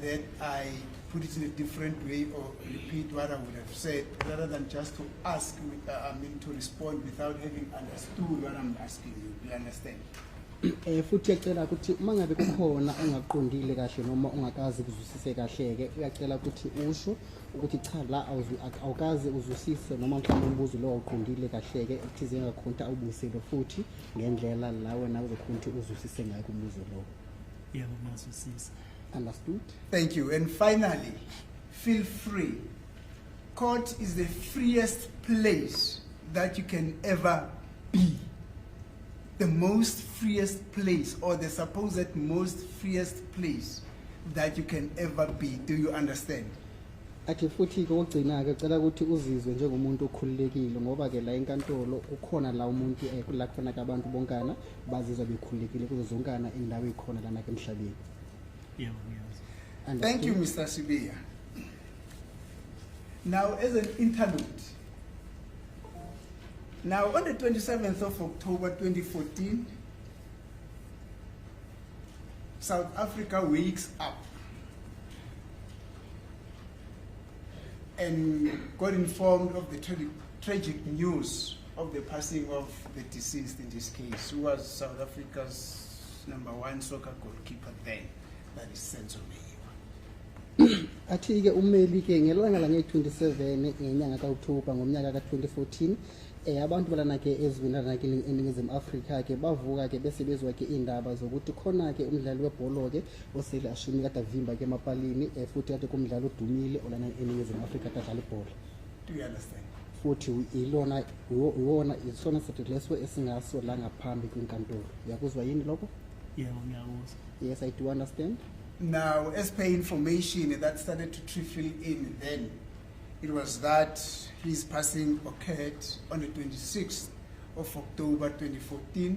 that I put it in a different way or repeat what I would have said rather than just to ask, uh, I mean, to respond without having understood what I'm asking you. Do you understand? eh futhi yacela ukuthi uma ngabe kukhona ongaqondile kahle noma ongakazi kuzwisise kahle-ke uyacela ukuthi usho ukuthi cha la awukazi uzwisise noma mhlawumbe umbuzo lowo awuqondile kahle-ke ekuthizeni ngakhonta awubuyisele futhi ngendlela la wena uzokhona ukuthi uzwisise ngayo kumbuzo lowo Yebo ngiyazwisisa. Understood? Thank you. And finally, feel free. Court is the freest place that you can ever be. The most freest place or the supposed most freest place that you can ever be. Do you understand? athi futhi ke ogcina ke cela ukuthi uzizwe njengomuntu okhululekile ngoba ke la enkantolo kukhona la umuntu eh, la khona ke abantu bonkana bazizwa bekhululekile kuzo zonkana indawo ikhona lana ke emhlabeni yebo ngiyazi And Thank you, Mr. Sibiya. Now, as an interlude, now on the 27th of October 2014, South Africa wakes up and got informed of the tra tragic news of the passing of the deceased in this case, who was South Africa's number one soccer goalkeeper then, that is Senzo Meyiwa. athi-ke ummeli ke ngelanga lange-27 ngenyanga ka-oktoba ngomnyaka ka-2014 eh abantu balana ke eziwinana ke eningizimu Afrika ke bavuka ke bese bezwa ke indaba zokuthi khona ke umdlali webholo ke osele ashumi kade avimba ke emapalini eh, futhi kade kumdlalo odumile olana eningizimu afrika kade adlala ibhola do you understand futhi ilona iwona isona sithetho leso esingaso la ngaphambi kwinkantolo uyakuzwa yini lokho yebo ngiyakuzwa yes i do understand now as per information that started to trickle in then it was that his passing occurred on the 26th of october 2014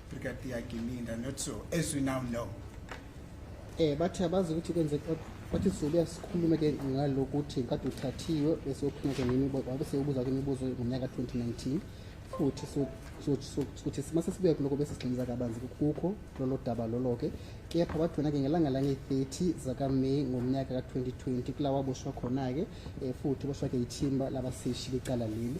Brigadier Gininda not so as we now know eh bathi abazi ukuthi kwenze bathi sizobuya sikhulume ke ngalokuthi kade uthathiwe bese uphuma ke nini wabe sewubuza ke imibuzo ngonyaka 2019 futhi sokuthi mase sibuya kuloko bese sigxiliza kabanzi kukho lolo daba lolo ke kepha bathi wena ke ngelanga lange-30 zakaMay ngomnyaka ka-2020 kula waboshwa khona-ke eh, futhi boshwa ke ithimba labaseshi becala leli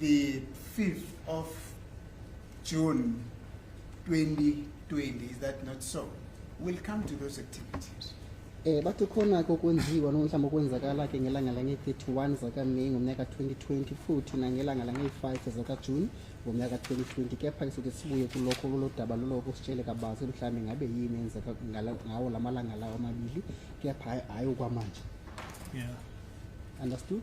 the 5th of June 2020 is that not so we'll come to those activities Eh bathi khona ke okwenziwa noma mhlawumbe okwenzakala ke ngelanga lange-31 zakaMeyi ngomnyaka 2020 futhi nangelanga lange-5 zakaJuni ngomnyaka 2020 kepha ke soke sibuye kulokho kulodaba loloko sitshele kabanzi mhlawumbe ngabe yini enzeka ngala- ngawo la malanga lawo amabili kepha hayi- hayi okwamanje Yeah. understood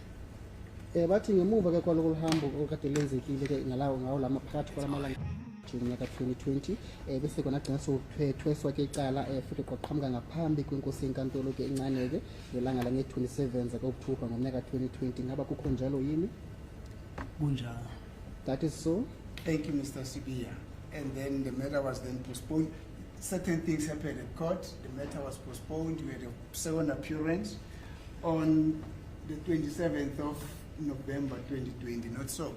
Eh bathi ngemuva ke kwaloko luhambo okade lenzekile ke ngalawo ngawo lama phakathi kwalamalanga ngonyaka 2020 eh bese kona gcina sokuthweswa ke icala eh futhi kwaqhamuka ngaphambi kwenkosi yenkantolo ke incane ke ngelanga lange 27 zakaOctober ngonyaka 2020 ngaba kukho njalo yini kunjalo that is so thank you Mr Sibiya and then the matter was then postponed certain things happened at court the matter was postponed we had a second appearance on the 27th of November 2020 not so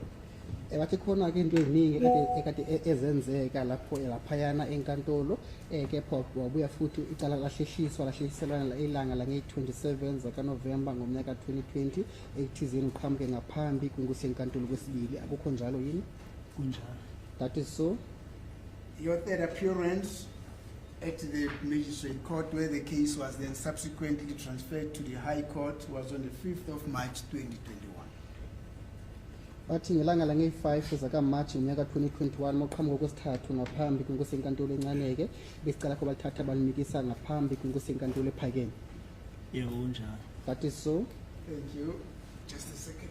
wathi khona ke into eziningi ekade e-, ezenzeka lapho laphayana enkantolo um kepha wabuya futhi icala lahlehliswa lahlehliselwana ilanga langeyi-27 zakanovemba ngomnyaka 2020 ekuthizeni uqhamuke ngaphambi kunkusenkantolo kwesibili akukho njalo yini kunjalo that is so Your third appearance at the Magistrate Court where the case was then subsequently transferred to the High Court was on the 5th of March 2021. Bathi ngelanga lange-5 zakaMarch ngonyaka 2021 moqhamuka okwesithathu ngaphambi kwenkosi yenkantolo encaneke besicela kho balithatha balimikisa ngaphambi kwenkosi yenkantolo ephakeme. Yebo kunjalo. That is so. Thank you. Just a second.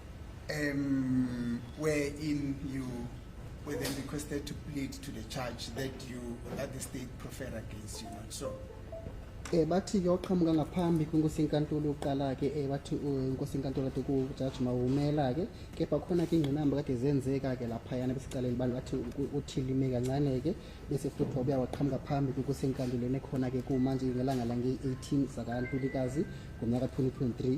um, wherein you were then requested to plead to the charge that you that the state prefer against you not so eh bathi ke oqhamuka ngaphambi kwinkosi inkantolo yokuqala ke eh bathi eh, inkosi inkantolo kade ku judge mawumela ke kepha khona ke ingqinamba kade zenzeka ke lapha yana besiqaleni bantu bathi uthilime kancane ke bese futhi wabuya waqhamuka phambi kwinkosi inkantolo nekhona ke kumanje ngelanga lange 18 zaka Ntulikazi ngomnyaka 2023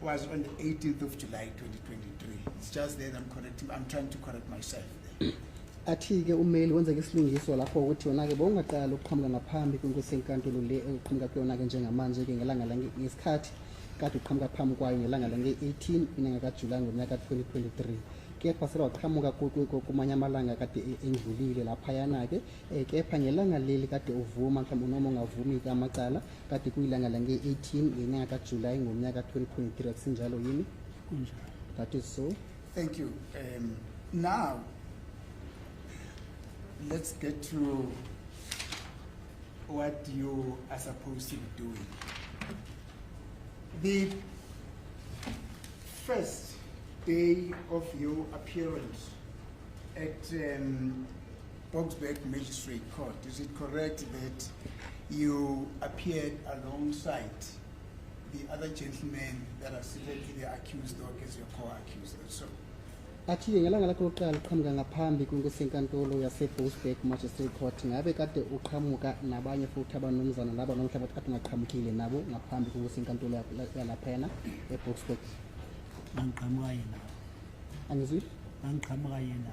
was on the 18th of July 2023. It's just there I'm correcting, I'm trying to correct myself. athi-ke umeli wenza isilungiso lapho ukuthi wona-ke bowungaqala ukuqhamuka ngaphambi kwenkosi enkantolo le eqhamuka kuyona-ke njengamanje-ke ngelanga ngesikhathi kade uqhamuka phambi kwayo ngelanga lange-18 inyanga kajulayi ngonyaka 2023 kepha sele waqhamuka kumanye amalanga kade e-, endlulile laphayana-ke Eh, kepha ngelanga leli kade uvuma mhlawumbe noma ungavumi ke amacala kade kuyilanga lange-18 ngenyanga kajulayi ngomnyaka 2023 akusinjalo yini kunjalo that is so thank you um, now let's get to what you are supposed to be doing the first day of your appearance at um, Boksburg Magistrate Court, is it correct that you appeared alongside the other gentlemen that are seated in the accused dock as your co-accused? So, athi-ke ngelanga lakho lokuqala uqhamuka ngaphambi kwenkulusenkantolo yaseboosburg magistrate court ngabe kade uqhamuka nabanye futhi abanomzana laba nomhla bathi kade ungaqhamukile nabo ngaphambi kwenkulusenkantolo yalaphayana eboosburg angiqhamuka yena angizwi angiqhamuka yena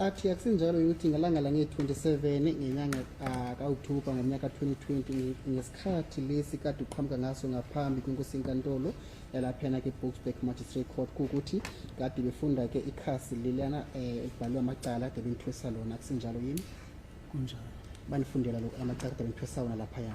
athi akusinjalo ukuthi ngelanga lange-27 ngenyanga ah, ka-okthobha ngomnyaka 2020 ngesikhathi lesi kade uqhamuka ngaso ngaphambi kwenkosi inkantolo yalaphena ke-boxback magistrate court kuwukuthi kade befunda ke ikhasi lelana um eh, ekubhalwe amacala kade benithwesa lona akusinjalo yini kunjalo banifundela amacala kade benithwesa wona laphaya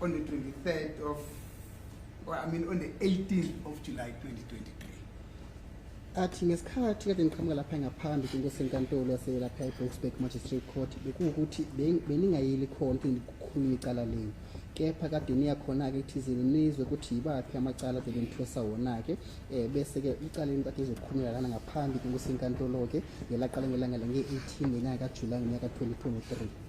on the 23rd of or I mean on the 18th of July 2023 athi ngesikhathi kade ngiqhamuka lapha ngaphambi kwinkosi enkantolo yaselapha i-boksburg magistrate court bekuwukuthi beningayeli khona ukuthi ngikhulume icala lenu kepha kade niya khona-ke ekuthizeni nizwe ukuthi yibaphi amacala vele nithosa wona-ke um bese-ke icala lenu kade lizokhulumela lana ngaphambi kwinkosi enkantolo-ke ngelaqala ngelanga le nge-18 ngenyanga kajulayi ngonyaka 2023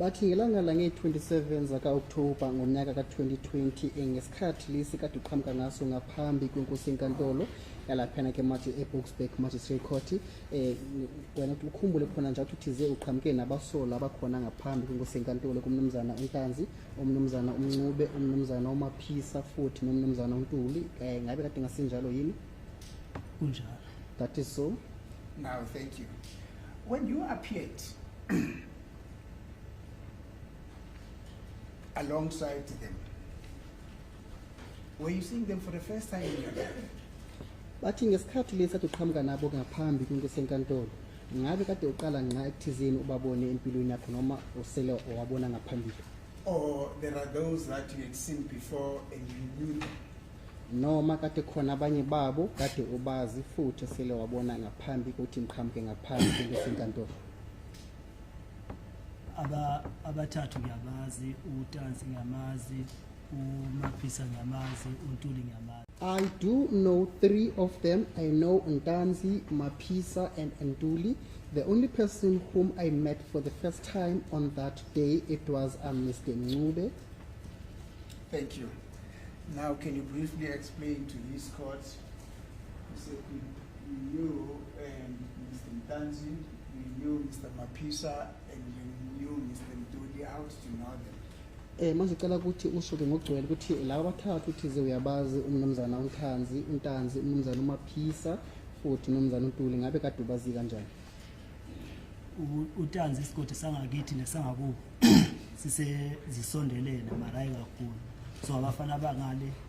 Bathi ngelanga lange-27 zaka-Okthoba ngonyaka ka-2020 ngesikhathi lesi kade uqhamuka ngaso ngaphambi kwenkosi enkantolo yalaphana ke manje e-Boksburg Magistrate Court eh wena ukhumbule khona nje ukuthi ze uqhamuke nabasola abakhona ngaphambi kwenkosi enkantolo kumnumzana uNtanzi umnumzana uMncube umnumzana uMaphisa futhi nomnumzana uNtuli eh ngabe kade ngasinjalo yini kunjalo that is so now thank you when you appeared alongside them. Were you seeing them for the first time in your life? bathi ngesikhathi lesi athi uqhamuka nabo ngaphambi kwinto esenkantolo ngabe kade uqala nxa ekuthizeni ubabone empilweni yakho noma usele wabona ngaphambili or there are those that you had seen before and you knew them noma kade khona abanye babo kade ubazi futhi sele wabona ngaphambi ukuthi ngiqhamuke ngaphambi kwinto esenkantolo aba abathathu ngiyabazi utansi ngiyamazi umaphisa ngiyamazi untuli ngiyamazi I do know three of them. I know Ntanzi, Mapisa, and Nduli. The only person whom I met for the first time on that day, it was uh, Mr. Nube. Thank you. Now, can you briefly explain to these courts Eh manje cela ukuthi ushuke ngogcwele ukuthi laba bathathu uthize uyabazi umnumzana uNthanzi, uNtanzi, umnumzana uMaphisa futhi umnumzana uNtuli ngabe kade ubazi kanjani? utanzi isigodi sangakithi nesangakubo sisezisondelene marayi kakhulu so abafana abangale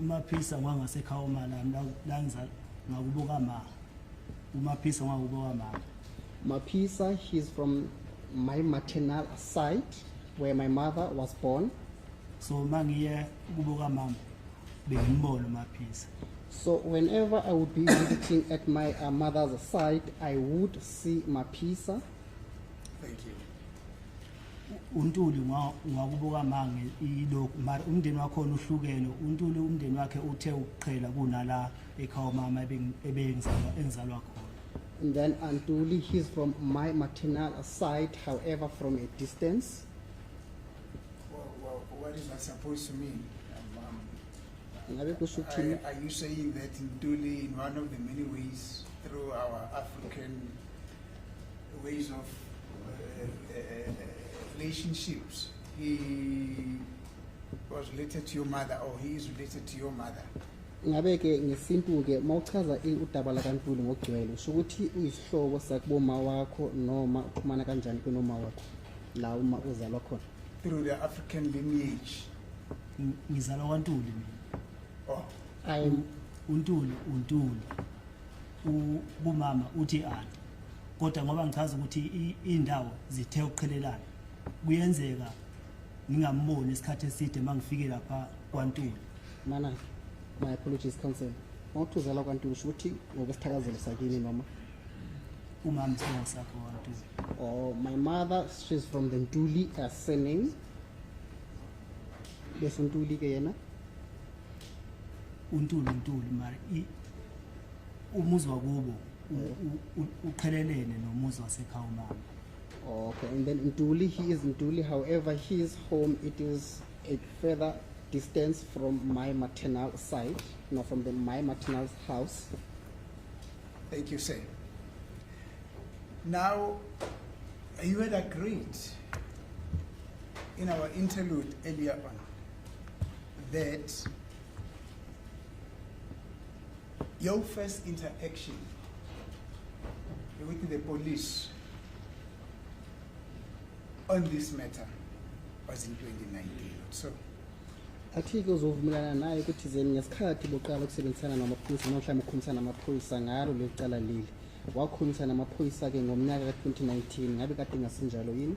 umaphisa ngwangasekhaya uma lami la ngizala ngakubuka ma umaphisa ngwakubuka mama maphisa he's from my maternal side where my mother was born so uma ngiye ukubuka mama bengimbona umaphisa So whenever I would be visiting at my uh, mother's side, I would see Mapisa. Thank you. uNtuli ungakubuka manga ilokhu mara umndeni wakhona uhlukene uNtuli umndeni wakhe uthe ukuqhela kunala ekhaya mama ebengizalwa engizalwa khona and then Antuli he's from my maternal side however from a distance what is that supposed to mean um, um, are you saying that Ntuli in one of the many ways through our African ways of uh, uh, relationships he was related to your mother or he is related to your mother ngabe ke ngesintu ke mawuchaza udaba lakantuli ngokugcwele usho ukuthi uyisihlobo sakuboma wakho noma uxhumana kanjani kunoma wakho la uma uzalwa khona through the african lineage ngizalwa kwantuli mina oh. untuli untuli kumama uthi anti kodwa ngoba ngichaza ukuthi indawo zithe ukuqhelelana kuyenzeka ngingamboni isikhathi eside mangifike lapha kwaNtuli mana my apologies counsel mawuthuzela kwaNtuli ukuthi ngokusithakazela sakini noma umama sibongo sakho kwaNtuli oh my mother she's from the Ntuli uh, surname bese untuli ke yena untuli untuli mara umuzi wakubo uqhelelene nomuzi wasekhaya umama okay and then ntuli he is ntuli however his home it is a further distance from my maternal side no from the my maternal house thank you sir now you had agreed in our interlude earlier on that your first interaction with the police on this matter was in 2019 so athi-ke uzovumelana naye ukuthi zeni ngesikhathi boqala ukusebenzisana namaphoyisa noma mhlawumbe ukhulumisana namaphoyisa ngalo leli cala leli wakhulumisana namaphoyisa-ke ngomnyaka ka-2019 ngabe kade ngasinjalo yini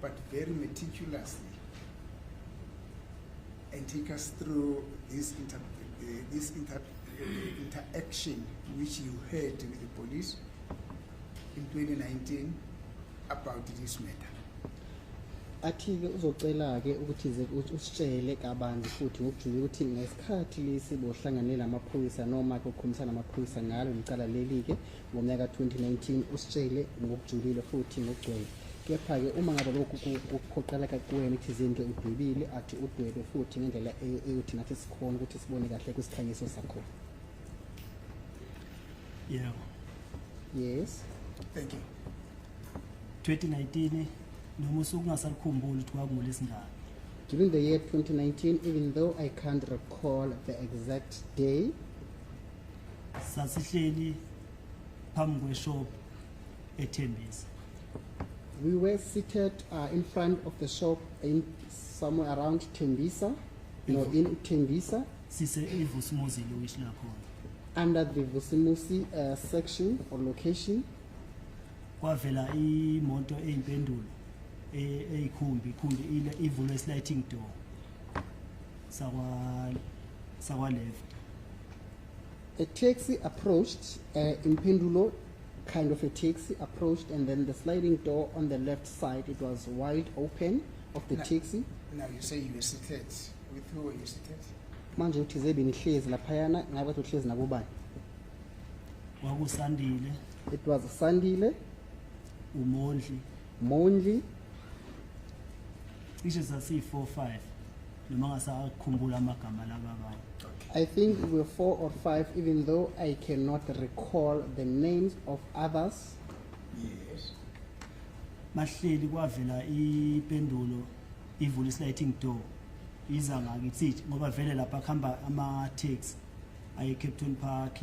but very meticulously and take us through this, inter, uh, this inter, uh, interaction which you had with the police in 2019 about this matter. athi-ke uzocela-ke ukuthi ze usitshele kabanzi futhi ngokujula ukuthi ngesikhathi lesi bohlanganela amaphoyisa noma-ke ukhulumisana amaphoyisa ngalo licala leli-ke ngonyaka 2019 usitshele ngokujulile futhi ngokugcwele kepha-ke uma ngabe lokhu kuphoqeleka kuwena ithizeni-ke udwebile athi udwebe futhi ngendlela e-, eyothi nathi sikhona ukuthi sibone kahle kwisikhanyiso sakho yeah. yes thank you 2019 noma usuke ungasalikhumbuli ukuthi kwakungolisingane during the year 2019 even though i can't recall the exact day sasihleli phambi kweshop ethembisa we were seated uh, in front of the shop in somewhere around Tembisa no in Tembisa sise ivusimuzi lokishi lakhona under the Vusimusi uh, section or location kwavela imoto eyimpendulo e- eyikhumbi ikhumbi ile- ivulwe sliding door sakwa sakwa left a taxi approached uh, Impindulo kind of a taxi approached and then the sliding door on the left side it was wide open of the now, taxi now you say you were seated with who were you seated manje uthi zebe ngihlezi laphayana ngabe bathi uhlezi nabobani kwakusandile it was sandile umondli Mondli cishe sasiyi 4 5 noma ngasakhumbula amagama lababa I think we were four or five, even though I cannot recall the names of others. Yes. Bahleli kwavela ipendulo ivula isliding door iza ngakithi ngoba vele lapha kuhamba ama taxi aye Captain Park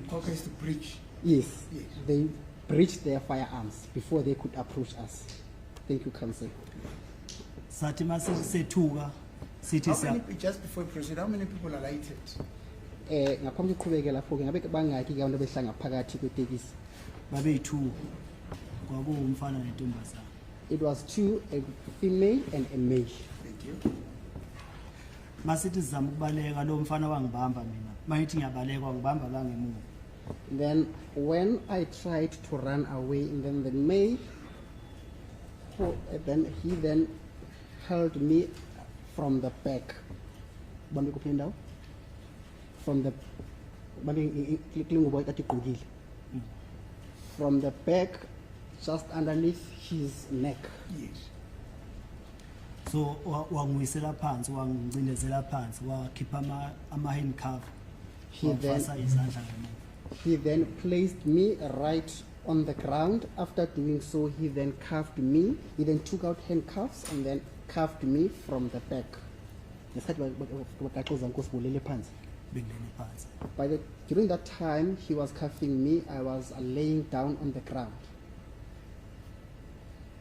Mkhokha is to breach. Yes, yes. They breached their firearms before they could approach us. Thank you, Council. Sathi masethuka sithi siya just before you proceed how many people are lighted? Eh ngaphambi kokuqhubeka lapho ke ngabe bangaki ke abantu behlanga phakathi kwetekisi? Babeyi-2. Kwakuwumfana nentombazana. It was two, a female and a male. Thank you. masithi sizama ukubaleka lo mfana wangibamba mina mayithi ngiyabaleka wangibamba la ngemuva then when i tried to run away and then the maid who, then he then held me from the back bambe kuphi indawo from the bambe klingubo ekade igqokile mm. from the back just underneath his neck yes so wanguyisela phansi wangicindezela phansi wakhipha ama, ama hand cover wafasa izandla ngemuva he then placed me right on the ground after doing so he then cuffed me he then took out handcuffs and then cuffed me from the back ngesikhathi bagaxoza nkosi bulele phansi bengene phansi by the during that time he was cuffing me i was laying down on the ground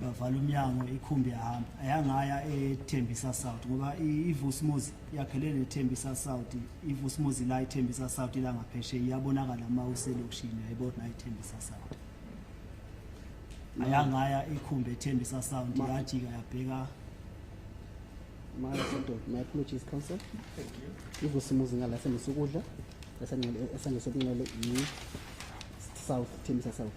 bavala umnyango ikhumbi yahamba ayangaya ethembisa south ngoba ivusmuzi yakhele nethembisa south ivusmuzi la ithembisa south ila ngapheshe iyabonakala uma uselokishini yayibona ithembisa south ayangaya ikhumbi ethembisa south yajika yabheka my adult my apologies council thank you ivusmuzi ngala senisukudla esangesokunxele yi south thembisa south